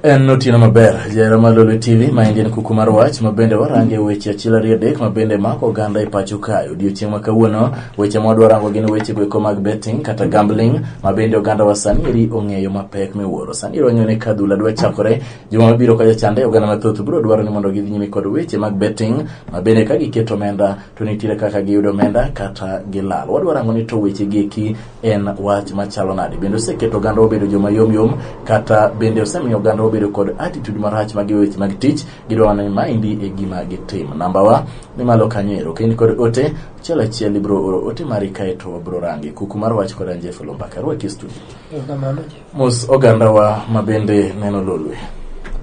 En otieno maber jahera mar Lolwe TV ma en kuku mar wach ma bende warange weche achiel ariyo adek ma bende mako oganda e pacho kae. Odiechieng' ma kawuono weche ma wadwa rango gin weche goeko mag betting kata gambling ma bende oganda wa sani eri ong'eyo mapek miwuoro. Sani ero wang'eyo ni ka adhula dwa chakore Juma mabiro ka jachande oganda mathoth biro dwaro ni mondo gidhi nyime kod weche mag betting ma bende ka giketo omenda to nitiere kaka giyudo omenda kata gilal. Wadwaro ang'o ni to weche gieki en wach machalo nade? Bende oseketo oganda obedo joma yom yom kata bende osemiyo oganda obedo kod attitude marach mag weche mag tich gidwaro ni maendi e gima gitim. Namba wa ni malo kanyo ero. Kain kod ote achiel achiel ibiro oro ote mari kaeto wabiro range. Kuku mar wach kod Anjeff Lumbaka. Rwaki studio. Erokamano. mos ogandawa ma bende neno lolwe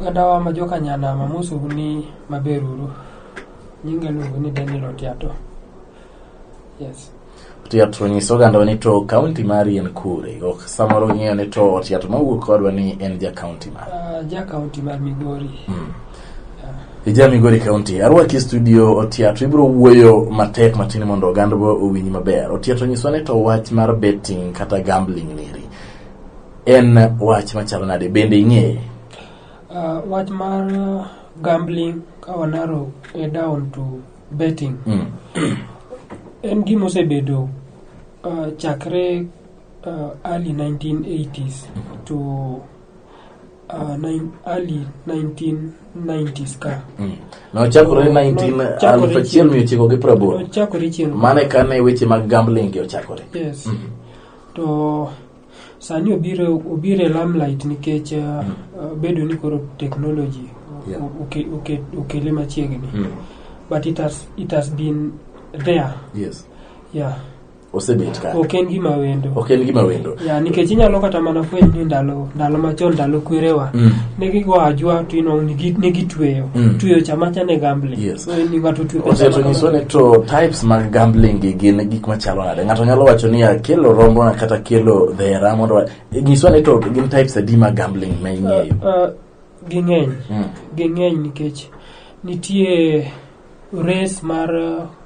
ogandawa ma joka nyandama mosou ni maber uru nyinga iluongo ni daniel otiato yes otiato nyis ogandawa ni to kaunti mari en kure ok samoro ng'eyo ni to otiato mawuok kodwa ni en ja kaunti mar uh, ja kaunti mar migori mm. Ija Migori County, arwaki e studio Otiato, ibiro wuoyo matek matin mondo ogandwa owinj maber. Otiato nyiswa ni to wach mar betting kata gambling niri. En wach machalo nade bende ing'eye? Uh, wach mar uh, gambling ka wanaro e down to betting mm. en gima osebedo uh, chakre uh, early 1980s mm-hmm. to uh, nine, early 1990s ka mm. nochakore 19 chakore chieng' mane kane weche mag gambling ochakore yes. mm -hmm. To sani obiro obiro e lamlight nikech uh, uh, bedo ni koro technology Yeah. oke- oke- okele machiegni Mm. but it has, it has been there Yes. yeah Osebet ka. ok en gima wendo Ok en gima wendo. yeah, nikech inyalo kata mana fweny ni ndalo ndalo machon ndalo kwerewa Mm. ne gigo ajwa to ino nigi- ne gitweyo Mm. tweyo cha macha ne gambling Yes. so ni ng'ato twe pesa oseto nyiswa makamano. ni to types mag gambling gi gin gik machalo nade ng'ato nyalo wacho ni akelo rombona kata kelo dhera mondo wa- nyiswa ni to gin types adi mag gambling ma ing'eyo Ah, ah, ging'eny Mm. ging'eny nikech nitie res mar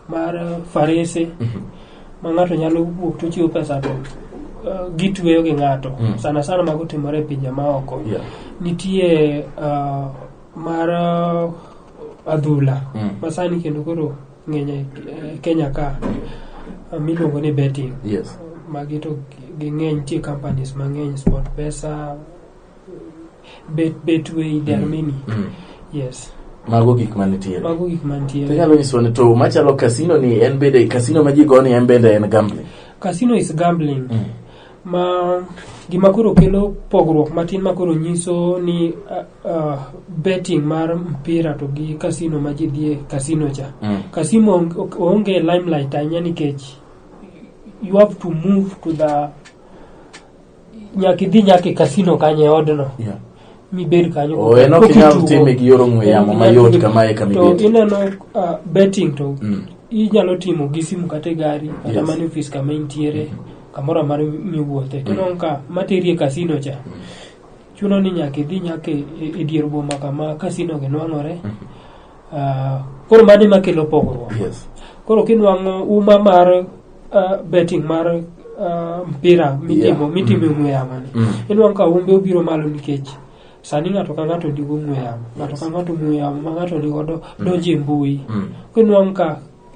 mar farese Mhm. ma ng'ato nyalo wuok to chiwo pesa to eh, gitweyo gi ng'ato Mm. sana sana mago timore e pinje maoko Yeah. nitie ah, mar ah, adhula Mm. masani kendo koro ng'eny e eh, kenya ka ah, miluongo ni betting Yes. magi to ging'eny nitie companies mang'eny sport pesa bet bet way there are Mm. many Mm. yes mago gik manitiere mago gik mantiere inyalo nyiswa ni to machalo kasino ni en bende kasino ma ji go ni en bende en gambling casino is gambling Mm. ma gima koro kelo pogruok matin ma koro nyiso ni uh, uh, betting mar mpira to gi casino ma ji dhie casino cha Mm. casino on- ok- onge limelight ahinya nikech you have to move to the nyaka idhi nyaka e kasino kanyo e odno Yeah. mibed kanyo Oh, en ok inyal Kokitugo. time gi yor ong'we yamo mayot kamae kama to ibet. ineno uh, betting to Mm. inyalo timo gi simu kata e gari kata Yes. mana e ofis kama intiere kamoro amaro miwuothe to ineno ka materi e kasino cha chuno ni nyaka idhi nyaka e e dier boma kama kasino gi nwang'ore Ah, koro mano ema kelo pogruok yes koro kinwang'o uma mar ah, betting mar ah, mpira mitimo Yeah. mitimo e ong'we yamo ni Mm. inwang'o ka umbe obiro malo nikech sani ng'ato ka ng'ato nigi ong'we yamo ng'ato ka ng'ato ong'we yamo ma ng'ato nigodo donjo e mbui Mm. kinwang'o ka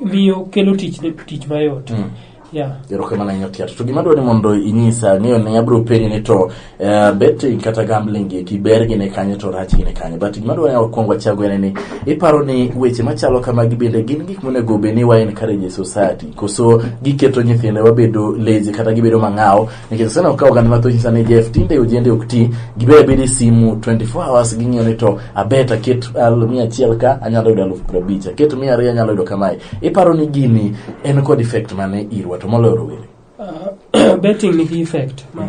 miyo kelo tich ne tich mayot mm. yeah. erokamano ahinya tiato to gima dwa ni mondo inyisa ang'eyo ne abiro penji ni to uh, betting kata gambling eki ber gine kanye to rach gine kanye but gima dwa ni wakwongo achago en ni iparo ni weche machalo kamagi bende gin gik monego bed ni wa encourage e society koso giketo nyithinde wabedo lazy kata gibedo mang'aw nikech sani ok kawo gand mathoji sana e jf tinde ojende ok ti gibe abedi simu 24 hours ging'iyo ni to abet aket al- mia achiel ka anyalo yudo alufu piero abich aket mia ariyo anyalo yudo kamae iparo ni gini en kod effect mane irwa to moloyo rowere Ah, betting nigi effect ma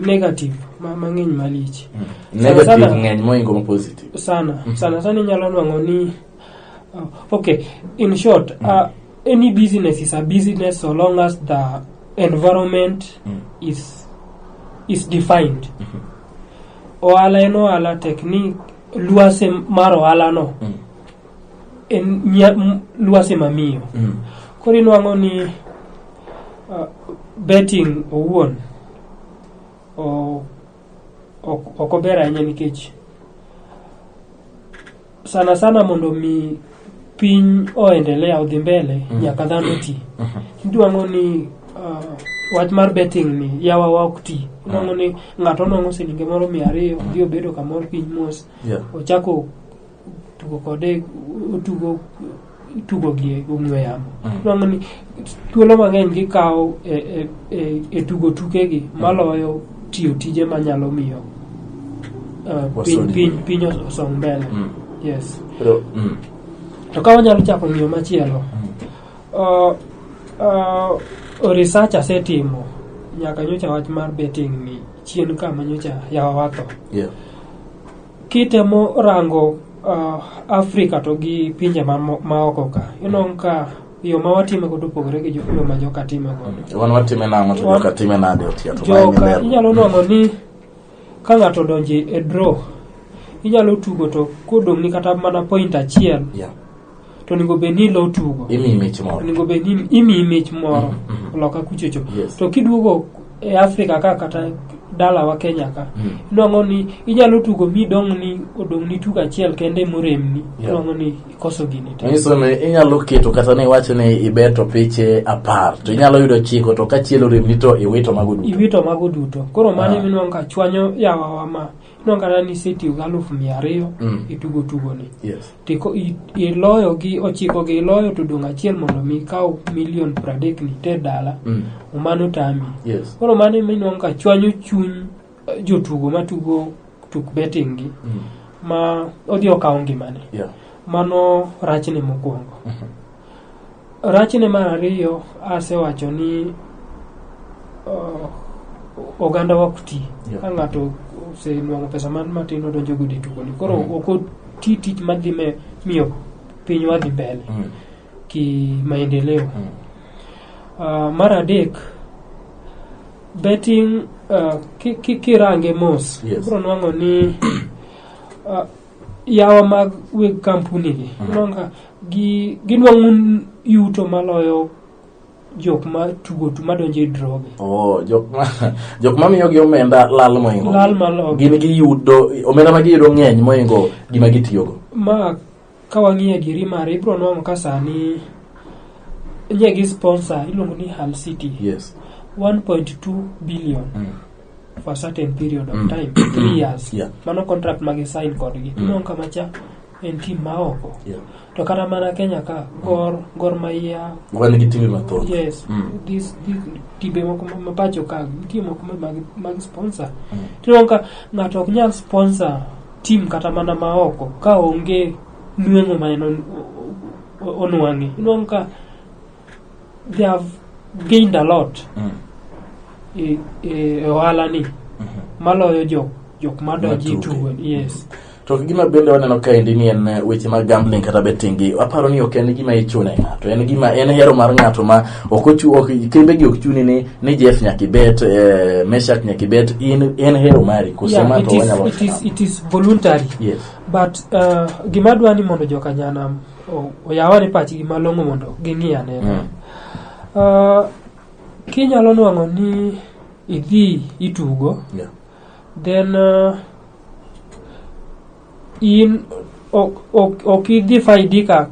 negative ma mang'eny malich negative sana- ng'eny moingo ma positive sana sana sana inyalo nwang'o ni Okay, in short, uh, any business is a business so long as the environment Mm. is is defined. Ohala en ohala technique luase mar ohala no Mm. en nya, m, luase mamiyo. Mm. Koro inwang'o ni uh, betting owuon o ok ober ahinya nikech sana sana mondo mi piny oendelea odhi mbele mm. nyaka dhano ti mm -hmm. idwang'o ni uh, wach mar betting ni yawa wa ok ti idwang'o mm. ni ng'ato nong'o silinge moro mia ariyo odhi obedo kamoro piny mos yeah. ochako tugo kode otugo tugo gi e ong'we yamo Mm. Iwang'o ni thuolo mang'eny gikawo e, e, e, e tugo tukegi maloyo tiyo tije manyalo miyo uh, piny, Wasongi. piny, piny os- osong mbele Mm. yes Pero, mm. to ka wanyalo chako ng'iyo machielo uh, uh, research asetimo nyaka nyocha wach mar betting ni chien kama nyocha yawa watho Yeah. Kitemo rango uh, Afrika to gi pinje ma, ma oko ka inong' ka yo ma watime godo opogore gi jo- yo ma joka time godo wan watime nang'o to joka time nade otiya to mae joka ni inyalo nwang'o ni ka ng'ato odonje e draw inyalo tugo to kodong'ni kata mana point achiel Yeah. to onego bed ni ilo tugo imiyi mich moro onego bed ni imiyi mich moro Mhm. loka kuchocho Yes. to kiduogo e africa ka kata dalawa kenya ka Mm. inwang'o ni inyalo tugo mi dong' ni odong' ni tugo achiel kende moremni Yeah. inwang'o ni ikoso gini te nyiso ni inyalo keto kata ni iwacho ni ibeto piche apar to inyalo yudo chiko to ka chielo remni to iwito mago duto iwito mago duto koro mano Ah. iminwang'o ka chwanyo yawawa ma Ineno kata ni isetiyo gi aluf mia ariyo Mm. itugo tugoni Yes. tiko i- iloyo gi ochiko gi iloyo to dong' achiel mondo mi ikaw milion pradek ni te dala Mm. mano tami Yes. koro mano ema inwang'o ka chwanyo chuny eh, jotugo matugo tuk betting gi Mm. ma odhi okawo ngimane Yeah. mano rachne mokwongo Rachne mar ariyo asewacho ni uh, oganda ok ti yeah. ka ng'ato osenwang'o pesa man matin odonjo gudi tukoni koro mm. ok oti tich madhi me miyo pinywa dhi mbele mm. ki maendeleo mm. uh, mar adek betting uh, kirange ki, ki mos yes. bro nwang'o ni uh, yawa mag weg kampuni gi Mhm. iyudo ka gi- ginwang'o yuto maloyo jok ma tugo tu madonjo e droge Oh, jok ma jok ma miyogi omenda lal moingo lal maloyo gin giyudo omenda ma giyudo ng'eny moingo gima gitiyogo ma ka wang'iyo adieri mare ibiro nwang'o ka sani nye gi sponsor iluongo ni Hull City yes 1.2 billion mm. for a certain period of Mm. time three years Yeah. mano contract ma gisign kodgi Mm. ineno kama cha en tim ma oko Yeah. to kata mana kenya ka gor gor maiya wan gi timbe mathoth yes Mm. this, this timbe moko ma- mapacho ka nitie moko ma- mag, mag sponsor Mm. tineno ka ng'ato ok nyal sponsor tim kata mana ma oko ka onge nweng'o ma en on- o- o- onwang'e ineno ka they have gained a lot Mm. e, e, e ohala ni maloyo jok jok madonji Matuge. tugo yes to gima bende waneno kaendi ni en eh, weche mag gambling kata betting gi aparo ni ok en gima ichune ng'ato en gima en hero mar ng'ato ma ok ochu ok kembe gi ok chuni ni ni Jeff nyaka ibet eh, Meshak nyaka ibet in en hero mari kusema yeah, it to is, wanyalo it is, it is voluntary yes but uh, gima dwa ni mondo jokanyanam o- oyawani pachgi malong'o mondo ging'i ane Mm. Ah, kinyalo nwang'o ni idhi itugo Yeah. then uh, in ok ok- ok idhi faidika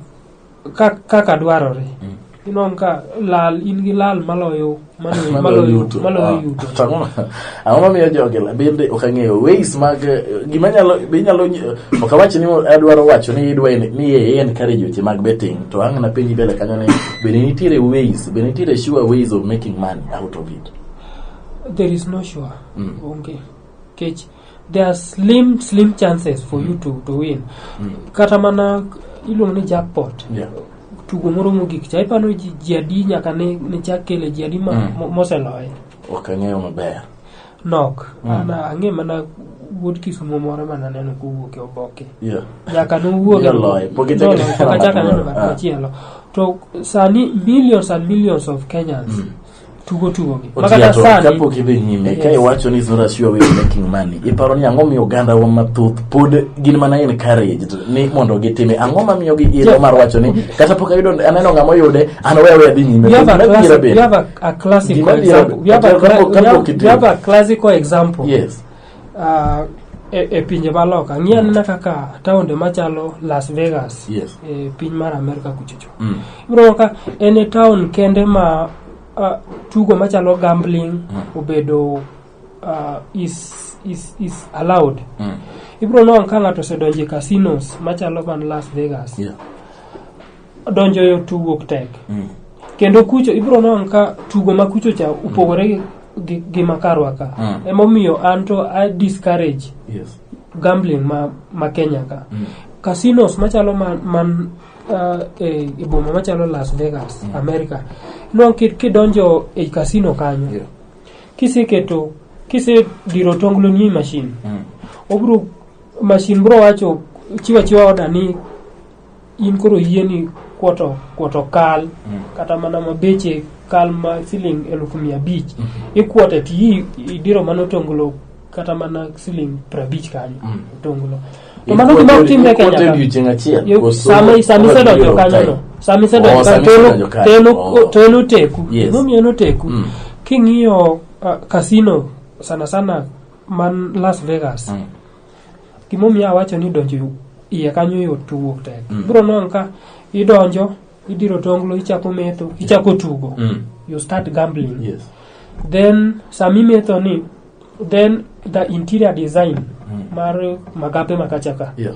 ka- kaka dwarore Mm. Inwang' ka lal in gi lal maloyo maloyo Maloyo maloyo yuto. maloyo Ah, yuto. to ang'o ma- ang'o mamiyo jogi la- bende ok ang'eyo ways mag eh, gima nyalo be inyalo nyi- ok awach ni adwaro wacho ni idwa en- ni e encourage weche mag betting to ang' na penji mbele kanyo ni bende nitiere ways bende nitiere sure ways of making money out of it There is no sure. Mm. Onge. Kech there are slim slim chances for you to, to win kata mana iluongo ni jackpot Yeah. tugo moro mogik cha ipano ji ji adi nyaka ne, ne chak kele ji adi ma, Mm. mo- moseloye Ok ang'eyo maber. nok Mm. an ang'e mana wuod kisumo moro mana neno kowuok e oboke Yeah. nyaka nowuog e- Noloye, pok ichak Noloye, ineno pok achak ng'at aneno moro. ng'at Ah. machielo to sani millions and millions of kenyans Mm. tugo tugo gi ma kata sani kapok idhi nyime ka iwacho ni zora sure way of making money iparo ni ang'o miyo oganda wa mathoth pod gin mana en courage ni mondo gitime ang'o ma miyo gi ilo mar wacho ni kata pok ayudo aneno ng'ama oyude an we we adhi nyime we have a classical example we have a classical example yes Uh, e, e pinje ma loka ng'i anena kaka taonde machalo las vegas Yes. e piny mar amerka kuchocho Mm. ibiro ka en e taon kende ma uh, tugo machalo gambling obedo uh, is, is, is allowed Mm. ibiro nongo ka ng'ato osedonjo e casinos machalo man las vegas Yeah. donjo e tugo tek Mm. kendo kucho ibiro neno ka tugo ma kucho cha opogore gi- gi, gi makarwa ka Mm. emomiyo an to i discourage Yes. gambling ma, ma kenya ka Mm. casinos machalo man, man uh, e, e boma machalo las vegas Mm. america inwang' ki- kidonjo e casino kanyo Yeah. kiseketo kisediro tonglo ni machine Mm. obro machine bro wacho chiwa chiwa oda ni in koro yieni kwoto kwoto kal kata mana ma beche kal ma siling elufu mia abich ikwote ti i- idiro mana otonglo kata mana siling prabich kanyo Mm. otonglo to mano gima ok timre Kenya ka. odiochieng achiel Yo- koso- sama sama koso isedonjo biro kanyo time? no sama Oh, isedonjo sama kanyo isedonjo kanyo. to en Oh. ok- to en oteku Yes. gimomiyo en oteku Mm. king'iyo ah, casino sana sana man Las Vegas Mm. Gimomiyo awacho ni donjo iye kanyo yot to wuok tek. Mm. Bro non ka idonjo, idiro tonglo, ichako metho, ichako tugo. Mm. You start gambling. Yes. Then sami metho ni then the interior design mm. mar magape makachaka. Yeah.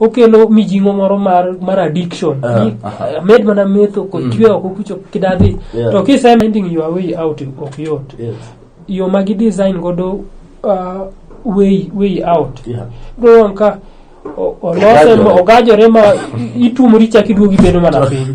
okelo mijing'o moro mar mar addiction Ah, Ni, aha. eh, med mana metho kod chwe oko kucho kidadhi Yeah. to kise finding your way out ok yot Yes. yo ma gi design godo uh, way way out Yeah. dong ka o- olose Ogajore. ma- ogajore ma itumori chak iduogi bedo mana piny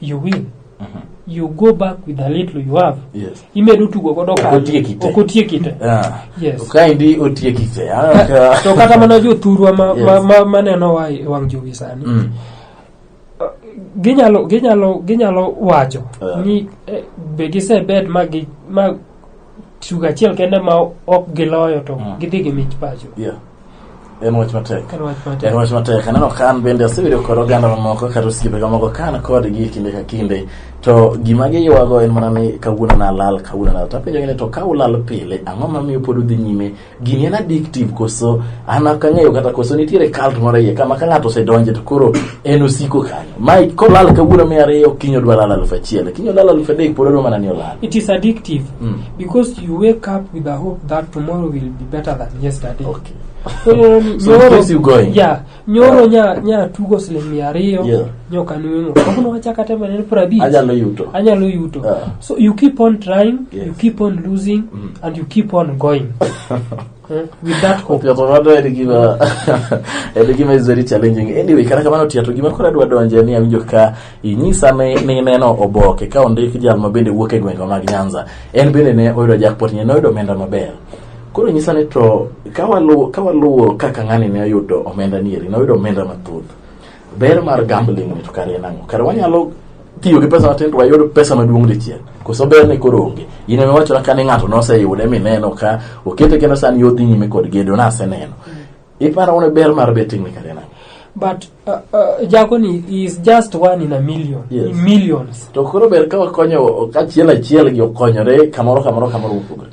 you win you go back with a little you have Yes. imedo tugo godo Ok otieki te. okotieki te Ah. Yes. Kaendi otieki te. Ah, ka- to kata mana jothurwa ma, Yes. ma, ma, maneno wa e wang' jowi sani Mm. ginyalo ginyalo ginyalo wacho Yeah. ni eh, be gisebet ma gi ma tugo achiel kende ma ok giloyo to Mm. gidhi gi mich pacho Yeah. En wach matek. en wach En matek wach matek. Aneno ka an bende asebedo kod oganda mamoko kata osiepe mamoko ka an kodgi e kinde ka kinde. To gima giywago en mana ni kawuono nalal, kawuono nalal. To apenjogi ni to ka ulal pile, ang'o mamiyo pod udhi nyime gini en addictive koso an ok ang'eyo kata koso nitiere cult moro iye kama ka ng'ato osedonje to koro en osiko kanyo ma kolal kawuono mia ariyo kiny odwa lal aluf achiel kiny olal aluf adek pod odwa mana ni olal It is addictive Mm. because you wake up with the hope that tomorrow will be better than yesterday. okay So, um, So it your- keeps you going. Yeah. nyoro nya nya tugo siling mia ariyo Yeah. nyoka nweng'o kawuono wachaka temo en prabich Anyalo yuto. anyalo yuto Ah. so you keep on trying Yes. you keep on losing and you keep on going Eh, with that hope Tiato mano en gima en gima is very challenging. Anyway, kata kamano Tiato gima koro adwa donje ni awinjo ka inyisa ni ni neno oboke ka ondik jal ma bende wuok e gwenge mag Nyanza. En bende ne oyudo jackpot ne oyudo omenda maber. Koro nyisa ni to ka waluwo ka waluwo kaka ng'ani ne oyudo omenda nieri, noyudo omenda mathoth. Ber mar gambling ni to kare en ang'o? Kare wanyalo tiyo gi pesa matin to wayud pesa maduong' dichiel. Koso ber ni koro onge. In ema iwachona ka ni ng'ato noseyude mineno ka okete kendo sani odhi nyime kod gedo naseneno. Iparo ni ber mar betting ni kare en ang'o? but uh, uh, jakoni is just one in a million Yes. in millions To koro ber ka wakonyo kachiel achiel gi okonyore kamoro kamoro kamoro mopogore.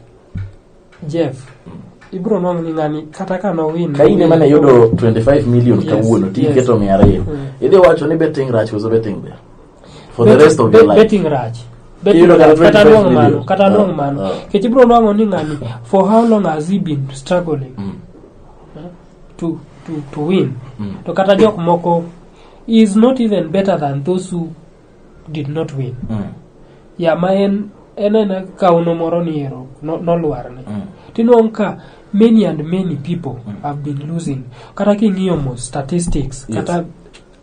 Jeff, ibiro nwang' ni ng'ani kata ka nowin. ka in ema ne yudo 25 million Yes, kawuono ti yes. iketo mia ariyo Mm. idhi wacho ni betting rach koso betting ber for the rest of your life Betting rach. Betting Iyudo kata rach, kata 25 nwang' mano, million. kata Ah, nwang' mano. ah. Kech ibiro nwang'o ni ng'ani for how long has he been struggling Mm, to to to win. mm. To kata jok moko he is not even better than those who did not win Mm. ya ma en en ena kauno moro ni ero no- nolwarne Mm. tinwang' ka many and many people have been losing kata king'iyo mo statistics Yes. kata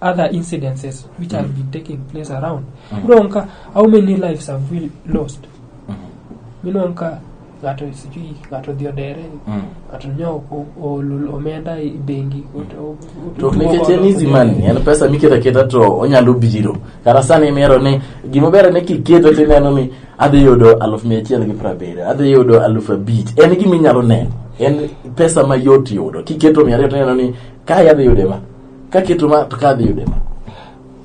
other incidences which have been taking place around Mm. inwang' ka how many lives have we lost Mhm. inwang' ka ng'ato sijui ng'ato odhi odere Mm. ng'ato nyo o- ool omenda e bengi ot- o- o- to ok nikech en easy money en pesa miketo aketa to onyalo biro kata sani imero ni gima ber ni kiketo tineno ni adhi yudo aluf mia achiel gi prabiriyo adhi yudo aluf abich en gima inyalo neno en pesa mayot yudo kiketo mia ariyo tineno ni kae adhi yude ma kaketo ma to ka adhi yude ma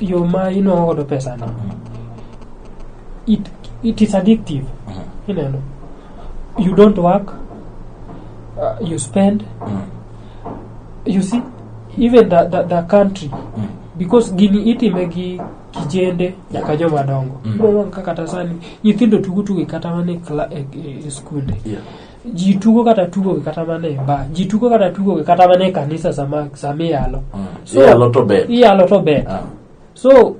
yo ma inwang'o godo pesano it, it is addictive ineno you don't work uh, you spend you see even the, the, the country because gini itime gi kijende nyaka joma dongo Mm. Bro, kaka kata sani nyithindo tugo tugo kata mana e kla- e- e- e skunde Yeah. ji tugo kata tugogi kata mana e ba ji tugo kata tugogi kata mana e kanisa sama sama iyalo So- iyalo to ber iyalo to ber Ah, so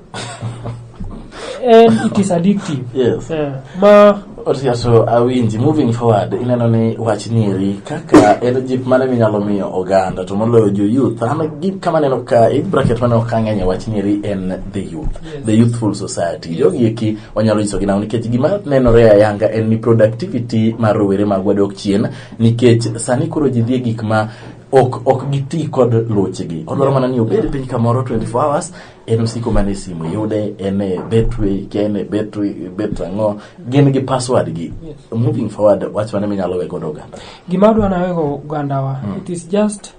and it is addictive yes Eh, ma Otia, so awinji moving forward ineno ni wach nieri kaka en jip mane minyalo miyo oganda to moloyo jo youth an gi kama neno ka age bracket mane ok ang'eny e wach nieri en the youth Yes. the youthful society jogi eki wanyalo nyiso gi nang'o nikech gima nenore ayanga en ni productivity mar rowere magwa dok chien nikech sani koro ji dhie gik ma ok ok giti kod lochegi odwaro mana ni obed piny kamoro 24 hours en osiko mana e simu yude en e betway ke en e betway bet ang'o gin gi password gi moving forward wach mane minyalo we godo oganda gima adwa nawe go ogandawa it is just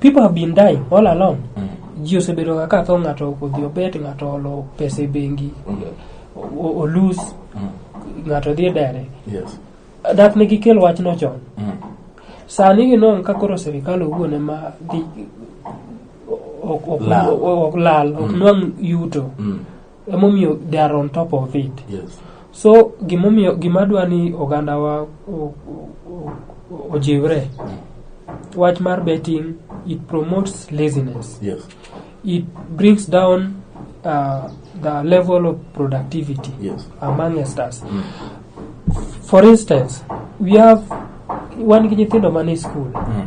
People have been dying all along. Mm. Ji osebedo ga ka tho ng'ato ok odhi obet, ng'ato olo pesa e bengi, o- olus, ng'ato dhi e dere. Yes. Dak ne gikel wachno chon. Mm. Sani ginong' ka koro sirikal owuon ema dhi ok- ok- Lal. ok lal, ok nwang' yuto. Mm. emomiyo they are on top of it yes. so gimomiyo gima dwa ni ogandawa o- o- o- ojiwre wach mar betting it promotes laziness Yes. it brings down uh, the level of productivity Yes. amongst us Mm. for instance we have wan gi nyithindo man e school Mm.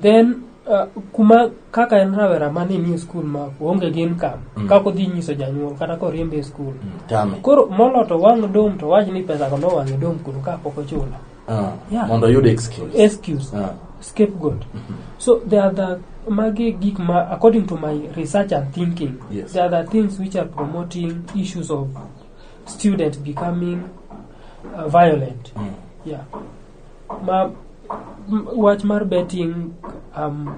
then uh, kuma kaka en rawera mani ni skul ma onge gi income mm. kaka odhi nyiso janyuol kata koriembe e skul mm. koro molo to wang' dom to wach ni pesa kono wang'e dom kuro ka pok ochula ah, yeah. mondo oyud excuse, excuse. Ah. scapegoat mm -hmm. so there are the magi gik ma according to my research and thinking yes. there are the things which are promoting issues of student becoming uh, violent mm. yeah ma wach mar betting um,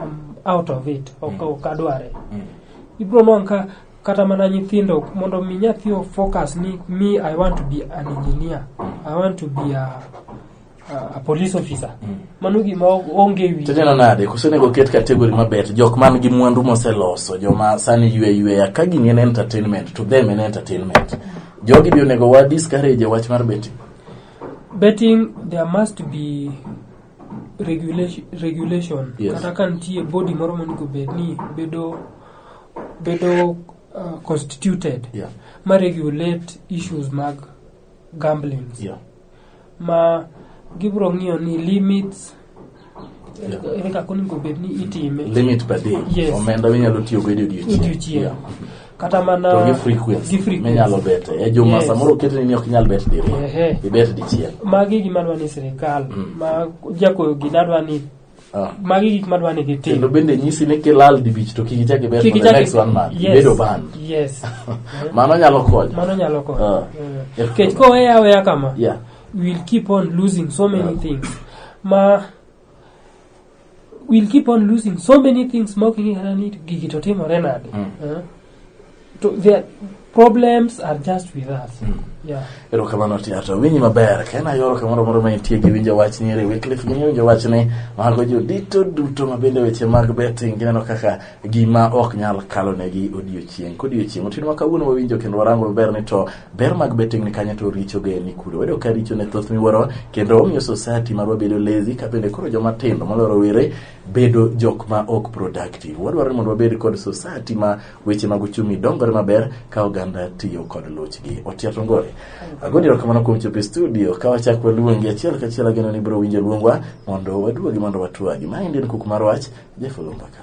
um, out of it ok mm. ok adware mm. ibro nwango ka kata mana nyithindo mondo mi nyathi o focus ni me i want to be an engineer i want to be a a police officer mm. mano gima onge wi tanyalo nade kosenego oket kategori maber jok man gi mwandu moseloso joma sani ywe yweya ka gini en entertainment to them en entertainment jogi bi onego wa discourage wach mar betting betting there must be regulation, regulation. Yes. kata ka nitie body moro monego bed ni bedo bedo uh, constituted Yeah. ma regulate issues mag gamblings Yeah. ma gibiro ng'iyo ni limits ere kaka onego bed ni itime limit per day Yes. omenda minyalo tiyo go e odiechieng odiochieng Yeah. kata mana to gi frequency gi frequency. minyalo bete e juma Yes. samoro oketni ni ok inyal bet diriyo Ehe. ibet dichiel magi gima dwa ni sirikal ma jakoyo gina dwa ni Ah. magi gik madwa ni gitim kendo bende nyisi ni kilal dibich to kik ichak ibet Kik for the ichak- next one month Yes. ibedo banned yes mano nyalo konyo mano nyalo konyo Ah. Mm. nikech koweya aweya kama Yeah. we'll keep on losing so many things ma we'll keep on losing so many things ma ok ing'e kata ni gigi to timore nade Eh? to their problems are just with us yeah erokamano tiato winyi maber ka en ayoro kamoro moro ma intie gi winjo wach ni ere wiklif gini winjo wach ni mago jodito duto ma bende weche mag betting gineno kaka gima ok nyal kalonegi odiochieng' kodiochieng' otieno ma kawuono wawinjo kendo warango maber ni to Ber mag betting ni kanye to richo ge ni kure. Wedo ka richo ne thoth miwuoro kendo omiyo society marwa bedo lazy ka bende koro joma tindo moloro were bedo jok ma ok productive. Wadwaro ni mondo wabed kod society ma weche mag uchumi dongore maber ka oganda tiyo kod luchgi. Otia Tongore. Agoni erokamano kuom chopo e studio ka wachak waluongi achiel kachiel ageno ni biro winjo luongwa mondo waduogi mondo watwagi. Maendi en kuku mar wach Jeff Olumbaka.